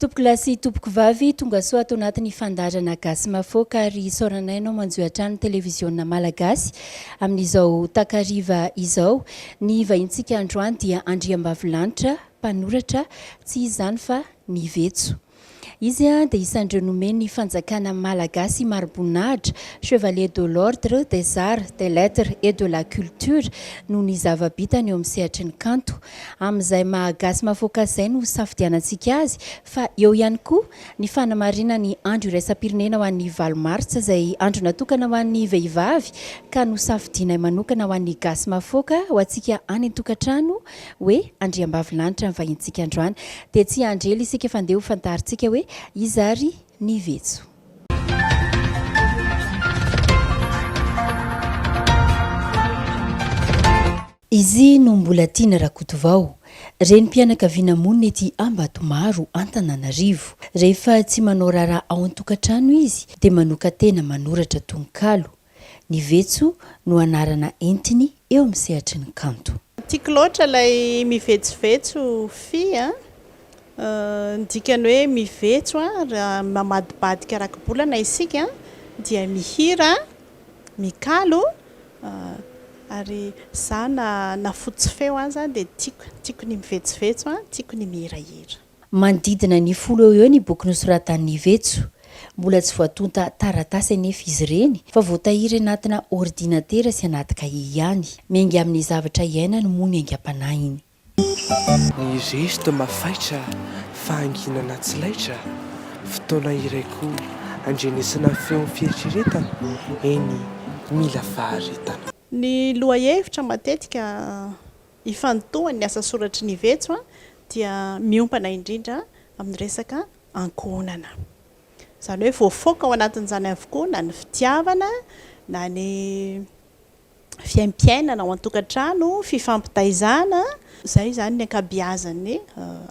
Tompokolahy sy tompokovavy, tongasoa ato anatin'ny fandaharana Gasy Mahafaoka ary isaoranay ianao manjohy hatrany Televiziona Malagasy amin'izao takariva izao. Ny vahintsika androany dia Andriambavilanitra, mpanoratra, tsy iza izany fa Ny Vetso. Izy dia isan'ireo nomen'ny fanjakana malagasy mari-boninahitra, Chevalier de l'Ordre des Arts, des Lettres et de la Culture, noho ny zava-bitany eo amin'ny sehatry ny kanto. Amin'izay maha-gasy mahafaoka azy izay no hosafidianantsika azy, fa eo ihany koa ny fanamarihana ny Andro iraisam-pirenena ho an'ny valo martsa, izay andro natokana ho an'ny vehivavy ka nosafidianay manokana ho an'ny gasy mahafaoka ho antsika any an-tokantrano hoe Andriambavilanitra ny vahintsika androany. Dia tsy hiandry ela isika fa ndeha ho fantarintsika hoe iza ary ny vetso. Izy no Mbolatiana Rakotovao, renim-pianakaviana monina ety Ambatomaro, Antananarivo. Rehefa tsy manao raharaha ao an-tokantrano izy dia manokan-tena manoratra tononkalo. Ny vetso no anarana entiny eo amin'ny sehatry ny kanto. Tiako loatra ilay mivetsovetso Fy a! Ny dikany hoe mivetso a, raha mamadibadika rakibolana isika dia mihira, mikalo, ary za na fotsy feo aza dia tiako, tiako ny mivetsovetso a, tiako ny mihirahira. Manodidina ny folo eo ho eo ny boky nosoratan'i Nivetso. Mbola tsy voatonta taratasy anefa izy ireny fa voatahiry anatina ordinatera sy anaty kahie ihany. Miainga amin'ny zavatra iainany moa ny aingam-panahiny. Ny zeste mafaitra, fahanginana tsy laitra, fotoana iray koa andrenesana feon'ny fieritreretana, eny, mila faharetana. Ny lohahevitra matetika ifantohan'ny asa soratry ny vetso dia miompana indrindra amin'ny resaka ankohonana. Izany hoe voafoaka ao anatin'izany avokoa na ny fitiavana na ny fiaimpiainana ao an-tokantrano, fifampitaizana. Izay izany ny ankabiazan'ny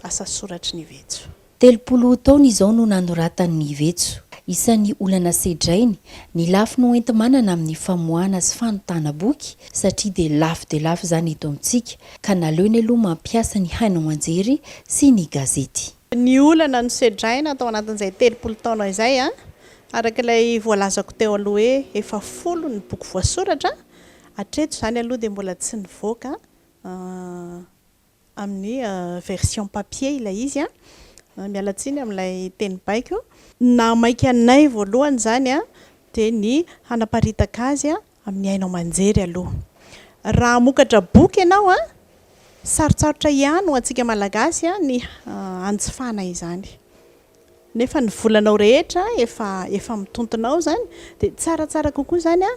asa soratry ny vetso. Telopolo taona izao no nanoratan'i Ivetso. Isan'ny olana sedrainy ny lafiny hoenti-manana amin'ny famoahana sy fanontana boky satria dia lafo dia lafo izany eto amintsika ka naleony aloha mampiasa ny haino aman-jery sy ny gazety. Ny olana nosedraina tao anatin'izay telopolo taona izay, araka ilay voalazako teo aloha hoe efa folo ny boky voasoratra, hatreto izany aloha dia mbola tsy nivoaka. amin'ny version papier ilay izy an! miala tsiny amin'ilay teny baiko. Ny naha maika anay voalohany izany an! dia ny hanaparitaka azy an! amin'ny haino aman-jery aloha. Raha hamokatra boky ianao an! sarotsarotra ihany ho antsika Malagasy an! ny hanjifana izany. nefa ny volanao rehetra efa efa mitontona ao zany de tsaratsara kokoa zany a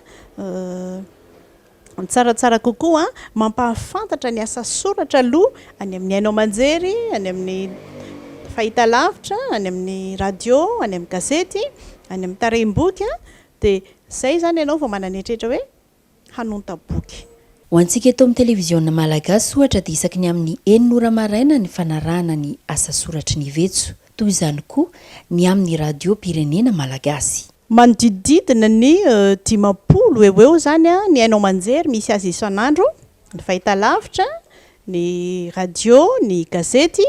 tsaratsara kokoa mampahafantatra ny asa soratra aloha any amin'ny haino aman-jery any amin'ny fahitalavitra any amin'ny radio any amin'ny gazety any amin'ny tarehim-boky a de zay zany ianao vao manana eritreritra hoe hanonta boky. Ho antsika eto amin'ny televiziona malagasy ohatra dia isaky ny amin'ny enina ora maraina ny fanarahana ny asa soratry ny vetso. Toy izany koa ny amin'ny radiom-pirenena malagasy. Manodidididina ny dimampolo eo ho eo izany ny haino aman-jery misy azy isan'andro, ny fahitalavitra, ny radio, ny gazety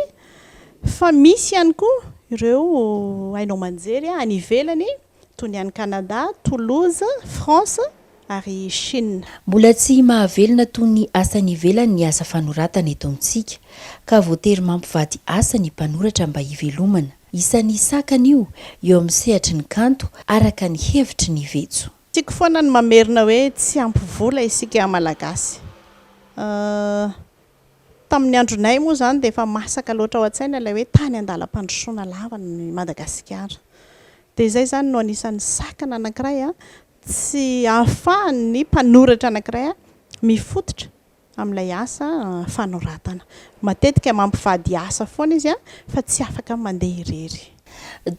fa misy ihany koa ireo haino aman-jery any ivelany. toy ny any Canada, Toulouse, France ary Chine. Mbola tsy mahavelona toy ny asa any ivelany ny asa fanoratana eto amintsika, ka voatery mampivady asa ny mpanoratra mba hivelomana. Isan'ny sakana io eo amin'ny sehatry ny kanto, araka ny hevitry ny vetso. Tiako foana ny mamerina hoe tsy ampy vola isika Malagasy. Tamin'ny andronay moa izany dia efa masaka loatra ao an-tsaina ilay hoe tany an-dalam-pandrosoana lava i Madagasikara. Dia izay izany no anisan'ny sakana anankiray tsy ahafahan'ny mpanoratra anankiray mifototra amin'ilay asa fanoratana. Matetika mampivady asa foana izy fa tsy afaka mandeha irery.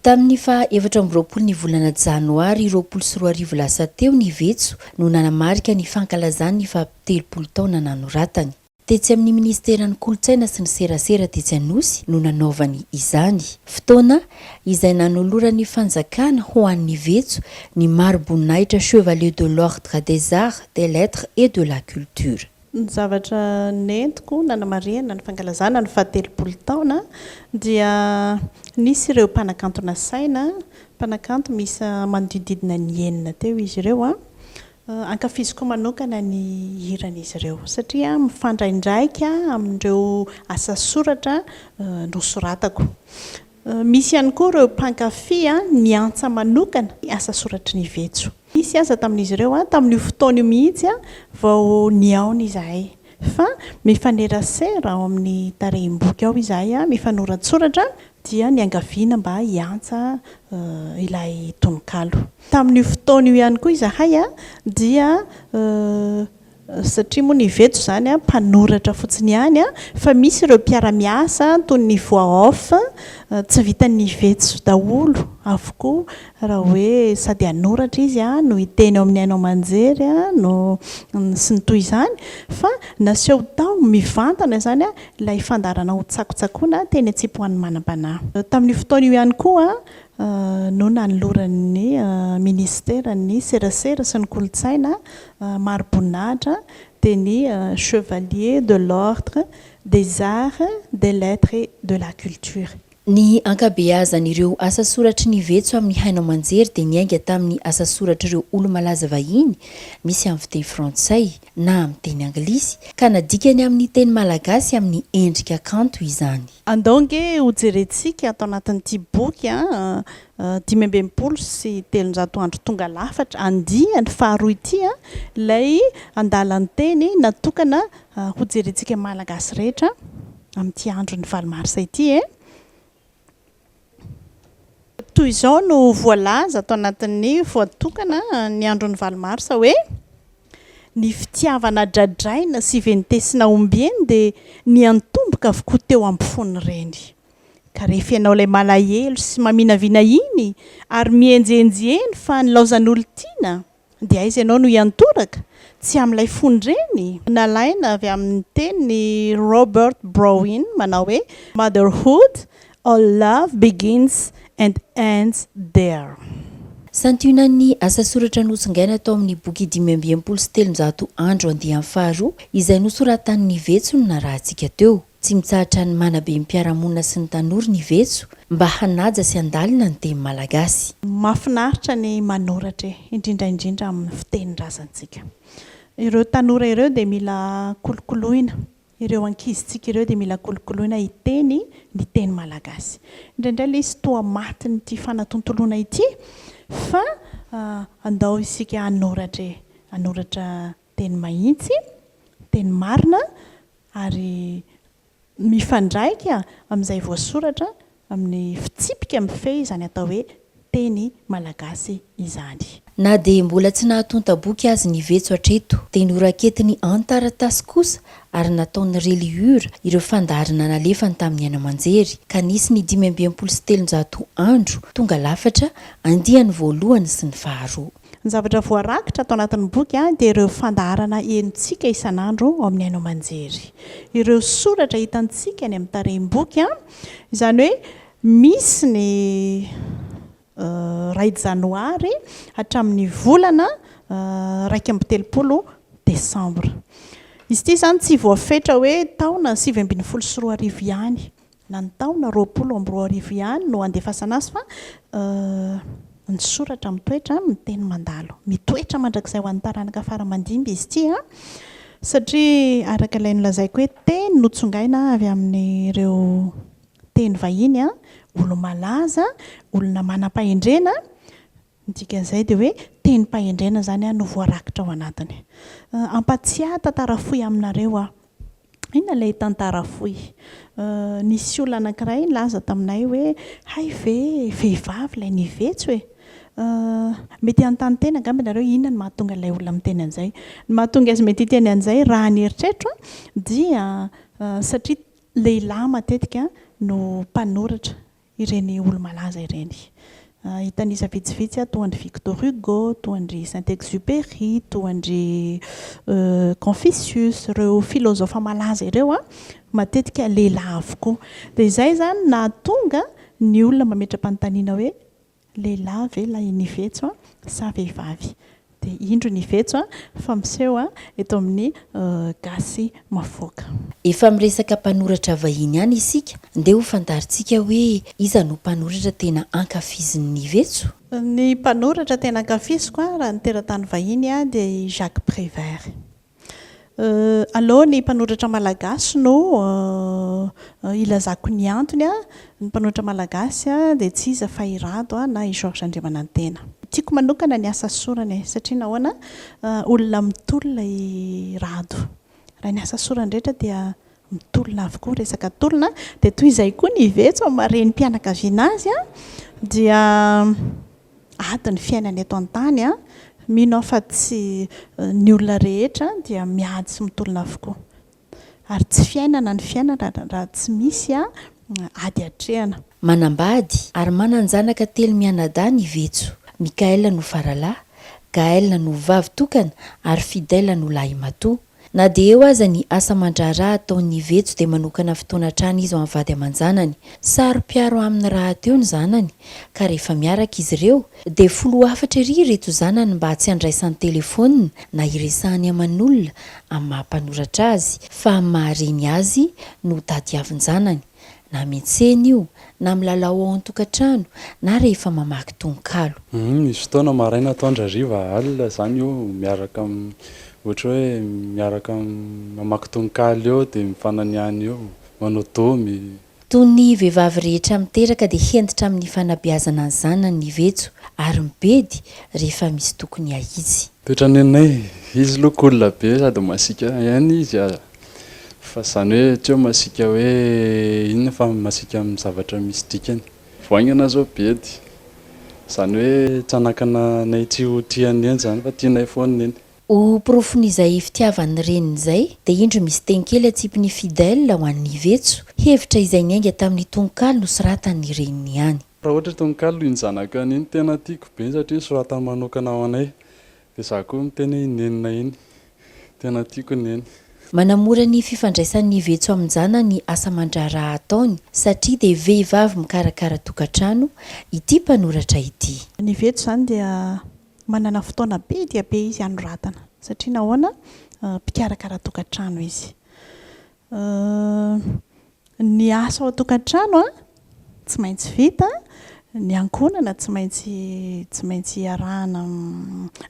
Tamin'ny faha efatra amby roapolo ny volana janoary roapolo sy roa arivo lasa teo ny vetso no nanamarika ny fankalazany ny faha telopolo taona nanoratany. Tetsy amin'ny minisiteran'ny kolontsaina sy ny serasera tetsy Anosy no nanaovany izany. Fotoana izay nanoloran'ny fanjakana ho an'ny vetso ny mari-boninahitra Chevalier de l'Ordre des Arts, des Lettres et de la Culture. Ny zavatra nentiko nanamarihana ny fankalazana ny fahatelopolo taona dia nisy ireo mpanakanto nasaina, mpanakanto miisa manodidididina ny enina teo izy ireo. Ankafiziko manokana ny hiran'izy ireo satria mifandraindraika amin'ireo asa soratra nosoratako. Misy ihany koa ireo mpankafy ny antsa manokana ny asa soratry ny vetso. Nisy aza tamin'izy ireo tamin'io fotoana io mihitsy vao nihaona izahay fa mifanerasera ao amin'ny tarehim-boky ao izahay mifanoratsoratra dia niangaviana mba hiantsa ilay tononkalo. Tamin'io fotoana io ihany koa izahay dia satria moa ny vetso izany an, mpanoratra fotsiny ihany an, fa misy ireo mpiara-miasa toy ny voix off, tsy vitan'ny vetso daholo avokoa raha hoe sady hanoratra izy an, no hiteny ao amin'ny haino aman-jery an, no sy ny toy izany, fa naseho tao mivantana izany an, ilay fandaharana ho tsakotsakoina teny an-tsipoan'ny manam-panahy. Tamin'io fotoana io ihany koa no nanoloran'ny minisiteran'ny serasera sy ny kolontsaina mari-boninahitra dia ny Chevalier de l'Ordre des Arts, des Lettres et de la Culture. Ny ankabeazan'ireo asasoratry ny vetso amin'ny haino aman-jery dia niainga tamin'ny asasoratr'ireo olo-malaza vahiny, misy amin'ny fiteny frantsay na amin'ny teny anglisy, ka nadikany amin'ny teny malagasy amin'ny endrika kanto izany. Andao ange hojerentsika ato anatin'ity boky dimy amby enimpolo sy telonjato andro tonga lafatra, andiany faharoa ity ilay andalan-teny natokana hojerentsika Malagasy rehetra amin'ity andron'ny valo marsa ity e. Toy izao no voalaza ato anatin'ny voatokana ny andron'ny valo marsa hoe, Ny fitiavana dradraina sy ventesina ombieny dia niantomboka avokoa teo ampofoan'ny reny. Ka rehefa ianao ilay malahelo sy maminavina iny ary mihenjihenjy eny fa nilaozan'olon-tiana dia aiza ianao no hiantoraka? Tsy amin'ilay fony ireny? Nalaina avy amin'ny tenin'i Robert Browne manao hoe Motherhood, All Love Begins and Ends There. Santionan'ny asa soratra notsongaina tao amin'ny boky dimy amby enimpolo sy telonjato andro andiany faharoa izay nosoratan'i Nivetso no narahantsika teo. Tsy mitsahatra ny manabe ny mpiara-monina sy ny tanora ny vetso mba hanaja sy handalina ny teny malagasy. Mahafinaritra ny manoratra e! indrindra indrindra amin'ny fitenin-drazantsika. Ireo tanora ireo dia mila kolokoloina, ireo ankizintsika ireo dia mila kolokoloina hiteny ny teny malagasy. Indraindray ilay izy toa matin'ity fanatontoloana ity fa andao isika hanoratra e! hanoratra dia ny mahitsy, dia ny marina ary mifandraika amin'izay voasoratra amin'ny fitsipika mifehy izany atao hoe teny malagasy izany. Na dia mbola tsy nahatonta-boky azy ny vetso hatreto, dia noraketiny an-taratasy kosa ary nataon'ny reliure ireo fandaharana nalefany tamin'ny aina aman-jery, ka nisy ny dimy amby enimpolo sy telonjato andro tonga lafatra, andiany voalohany sy ny faharoa. Ny zavatra voarakitra ato anatin'ny boky dia ireo fandaharana henontsika isan'andro ao amin'ny haino aman-jery. Ireo soratra hitantsika eny amin'ny tarehim-boky, izany hoe misy ny iray janoary hatramin'ny volana iraika amby telopolo desambra. Izy ity izany tsy voafetra hoe taona sivy ambin'ny folo sy roa arivo ihany Na ny taona roapolo amby roa arivo ihany no andefasana azy fa ny soratra mitoetra amin'ny teny mandalo. Mitoetra mandrakizay ho an'ny taranaka fara aman-dimby izy ity an! Satria araka ilay nolazaiko hoe teny notsongaina avy amin'ireo teny vahiny an! Olo-malaza, olona manam-pahendrena, ny dikan'izay dia hoe tenim-pahendrena izany an no voarakitra ao anatiny. Ampatsiahy tantara fohy aminareo aho. Inona ilay tantara fohy? Nisy olona anankiray nilaza taminay hoe, hay ve vehivavy ilay nivetso e! Mety hanontany tena angamba ianareo inona no mahatonga ilay olona miteny an'izay. Ny mahatonga azy mety hiteny an'izay raha ny eritreritro dia satria lehilahy matetika no mpanoratra ireny olo-malaza ireny. Hitanisa vitsivitsy aho toa an-dry Victor Hugo, toa an-dry Saint-Exupéry, toa an-dry Confucius, ireo filozofa malaza ireo matetika lehilahy avokoa. Dia izay izany no nahatonga ny olona mametra-panontaniana hoe, Lehilahy ve ilay Nivetso sa vehivavy? Dia indro Nivetso fa miseho eto amin'ny Gasy Mavoaka. Efa miresaka mpanoratra vahiny ihany isika, ndeha ho fantarintsika hoe iza no mpanoratra tena ankafizin'i Nivetso? Ny mpanoratra tena ankafiziko raha ny teratany vahiny dia i Jacques Prévert. Aleo ny mpanoratra malagasy no ilazako ny antony. Ny mpanoratra malagasy dia tsy iza fa i Rado na i Georges Andriamanantena. Tiako manokana ny asa sorany satria nahoana, olona mitolona i Rado. Raha ny asa sorany rehetra dia mitolona avokoa, resaka tolona. Dia toy izay koa ny iveso amin'ny maha renim-pianakaviana azy dia ady ny fiainana eto an-tany an! Mino aho fa tsy ny olona rehetra dia miady sy mitolona avokoa. Ary tsy fiainana ny fiainana raha tsy misy ady atrehana. Manambady ary manan-janaka telo mianadahy ny Vetso. Michael no faralahy, Gaël no vavy tokana ary Fidèle no lahimatoa. Na dia eo aza ny asa aman-draharaha ataon'ny Ivejo dia manokana fotoana hatrany izy ho an'ny vady aman-janany. Saro-piaro aminy rahateo ny zanany ka rehefa miaraka izy ireo dia filoha hafatra ery ireto zanany mba tsy handraisany telefaonina na hiresahany aman'olona amin'ny maha-mpanoratra azy fa amin'ny maha-reny azy no tadiavin-janany. na miantsena io, na milalao ao an-tokantrano, na rehefa mamaky tononkalo. Humm misy fotoana maraina atoandro hariva alina izany eo miaraka ohatra hoe miaraka mamaky tononkalo eo dia mifananiany eo manao domy. Toy ny vehivavy rehetra miteraka dia hentitra amin'ny fanabeazana ny zanany ny vetso ary mibedy rehefa misy tokony hahitsy. Toetran'i Neninay, izy aloha cool be sady masiaka ihany izy ary Fa izany hoe tsy hoe masiaka hoe inona fa masiaka amin'ny zavatra misy dikany. Vao haingana izao Bedy. Izany hoe tsy hanakana anay tsy ho tia an'i Neny izany fa tianay foana i Neny. Ho porofon'izay fitiavan'ny reniny izay dia indro misy teny kely atsipin'i Fidèle ho an'i Vetso, hevitra izay niainga tamin'ny tononkalo nosoratan'ny reniny ihany. Raha ohatra tononkalo iny zanaka iny tena tiako be satria nosoratany manokana ho anay. Dia za koa miteny hoe i nenina iny. Tena tiako neny. Manamora ny fifandraisan'ny vetso amin-jana ny asa aman-draharaha ataony satria dia vehivavy mikarakara tokantrano ity mpanoratra ity. Ny vetso izany dia manana fotoana be dia be izy hanoratana satria nahoana? Mpikarakara tokantrano izy. Ny asa ao an-tokantrano tsy maintsy vita, ny ankohonana tsy maintsy tsy maintsy iarahana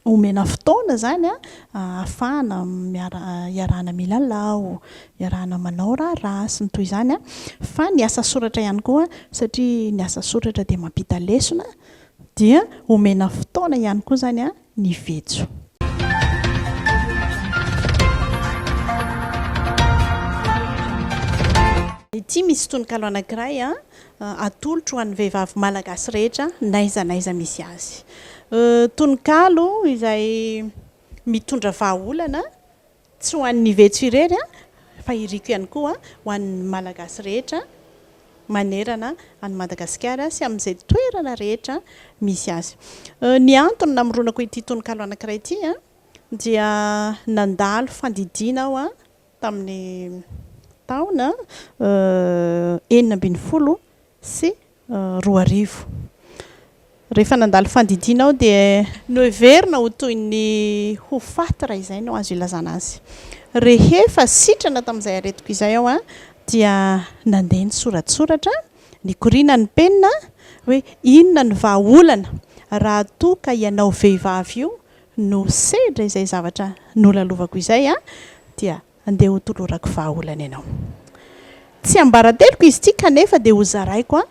omena fotoana izany ahafahana miara iarahana milalao, iarahana manao raharaha sy ny toy izany. Fa ny asa soratra ihany koa satria ny asa soratra dia mampita lesona dia omena fotoana ihany koa izany ny vetso. Ity misy tononkalo anankiray atolotro ho an'ny vehivavy malagasy rehetra n'aiza n'aiza misy azy. Tononkalo izay mitondra vahaolana Tsy ho an'ny vetso irery fa iriko ihany koa ho an'ny Malagasy rehetra manerana an'i Madagasikara sy amin'izay toerana rehetra misy azy. Ny antony namoronako ity tononkalo anankiray ity dia nandalo fandidiana aho tamin'ny taona enina ambin'ny folo sy roa arivo. Rehefa nandalo fandidiana aho dia. Noheverina ho toy ny ho faty raha izay no azo ilazana azy. Rehefa sitrana tamin'izay aretiko izay aho dia nandeha nisoratsoratra, nikoriana ny penina, hoe inona no vahaolana raha toa ka ianao vehivavy io no sedra izay zavatra nolalovako izay dia Andeha hotolorako vahaolana ianao. Tsiambarateloko izy ity kanefa dia hozaraiko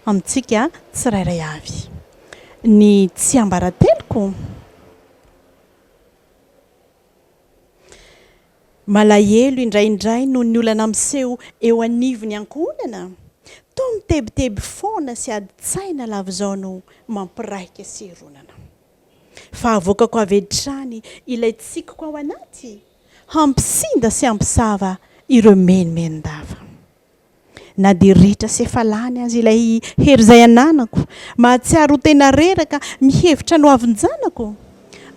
amintsika tsirairay avy ny tsiambarateloko. Malahelo indraindray noho ny olana miseho eo anivon'ny ankohonana. Toa mitebiteby foana sy adin-tsaina lava izao no mampiraika sy hironana. Fa avoakako avy hatrany ilay tsikiko ao anaty, hampisinda sy hampisava ireo menomenon-dava. Na dia ritra sy efa lany aza ilay hery izay ananako, mahatsiaro ho tena reraka mihevitra ny hoavin-janako,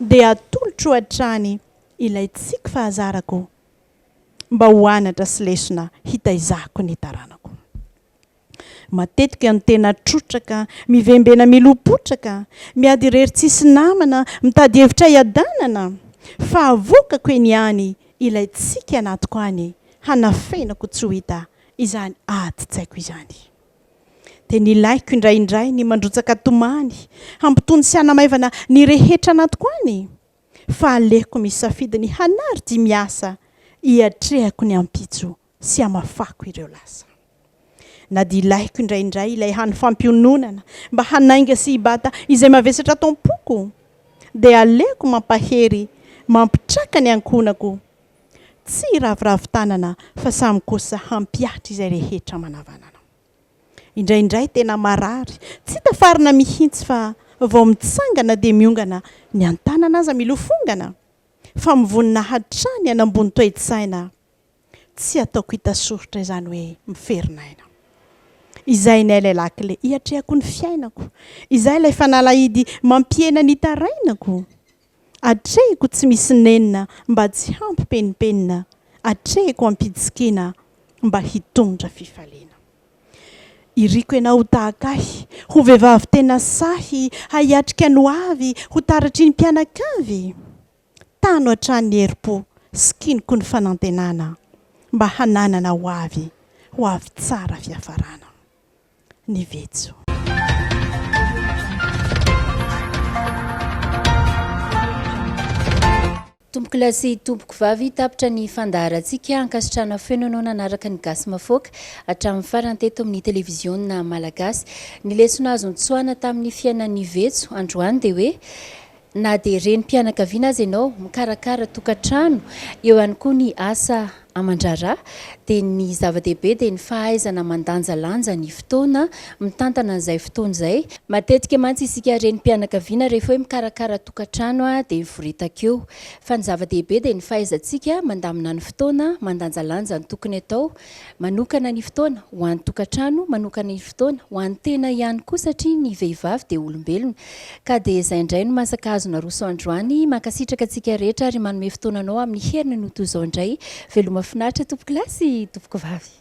dia atolotro hatrany ilay tsiky fahazarako mba ho anatra sy lesona hitaizako ny taranako. Matetika ny tena trotraka, mivembena milom-potraka, miady irery tsisy namana, mitady hevitra hiadanana, fa avoakako eny ihany ilay tsiky anatiko any, hanafenako tsy ho hita izany adin-tsaiko izany. Dia nilaiko indraindray ny mandrotsaka tomany, hampitony sy hanamaivana ny rehetra anatiko any, fa aleoko misafidy ny hanary dia miasa hiatrehako ny ampitso sy hamafako ireo lasa. Na dia ilaiko indraindray ilay hany fampiononana mba hanainga sy hibata izay mavesatra ato am-poko, dia aleoko mampahery mampitraka ny ankohonako, tsy hiraviravy tanana fa samy kosa hampihatra izay rehetra manavanana. Indraindray tena marary tsy tafarina mihitsy fa vao mitsangana dia miongana ny an-tanana aza milofongana fa mivonona hatrany hanambony toe-tsaina, Tsy ataoko hita soritra izany hoe miferinaina. Izay ny ailay lakile hiatrehako ny fiainako. Izay ilay fanalahidy mampihena ny hitarainako. Atrehiko tsy misy nenina mba tsy hampipenimpenina, atrehiko ampidisikina mba hitondra fifaliana. Iriko ianao ho tahaka ahy, ho vehivavy tena sahy hahiatrika ny hoavy, ho taratry ny mpianakavy. Tano hatrany ny herim-po sy kiniko ny fanantenana mba hananana ho avy, ho avy tsara fiafarana. Ny vetso. Tompokolahy sy tompokovavy, tapitra ny fandaharantsika. Ankasitrahana feo noho nanaraka ny Gasy Mafoaka hatramin'ny farany teto amin'ny Televiziona Malagasy. Ny lesona azo notsoahana tamin'ny fiainan'ny vetso androany dia hoe, Na dia renim-pianakaviana aza ianao, mikarakara tokantrano, eo ihany koa ny asa aman-draharaha, dia ny zava-dehibe dia ny fahaizana mandanjalanja ny fotoana, mitantana an'izay fotoana izay. Matetika mantsy isika renim-pianakaviana rehefa hoe mikarakara tokantrano dia mivoritaka eo. Fa ny zava-dehibe dia ny fahaizantsika mandamina ny fotoana, mandanjalanja ny tokony atao, Manokana ny fotoana ho an'ny tokantrano, manokana ny fotoana ho an'ny tena ihany koa satria ny vehivavy dia olombelona. Ka dia izay indray no masaka azo naroso androany. Mankasitraka antsika rehetra ary manome fotoana anao amin'ny heriny no toy izao indray. Veloma finaritra tompoko lahy sy tompoko vavy.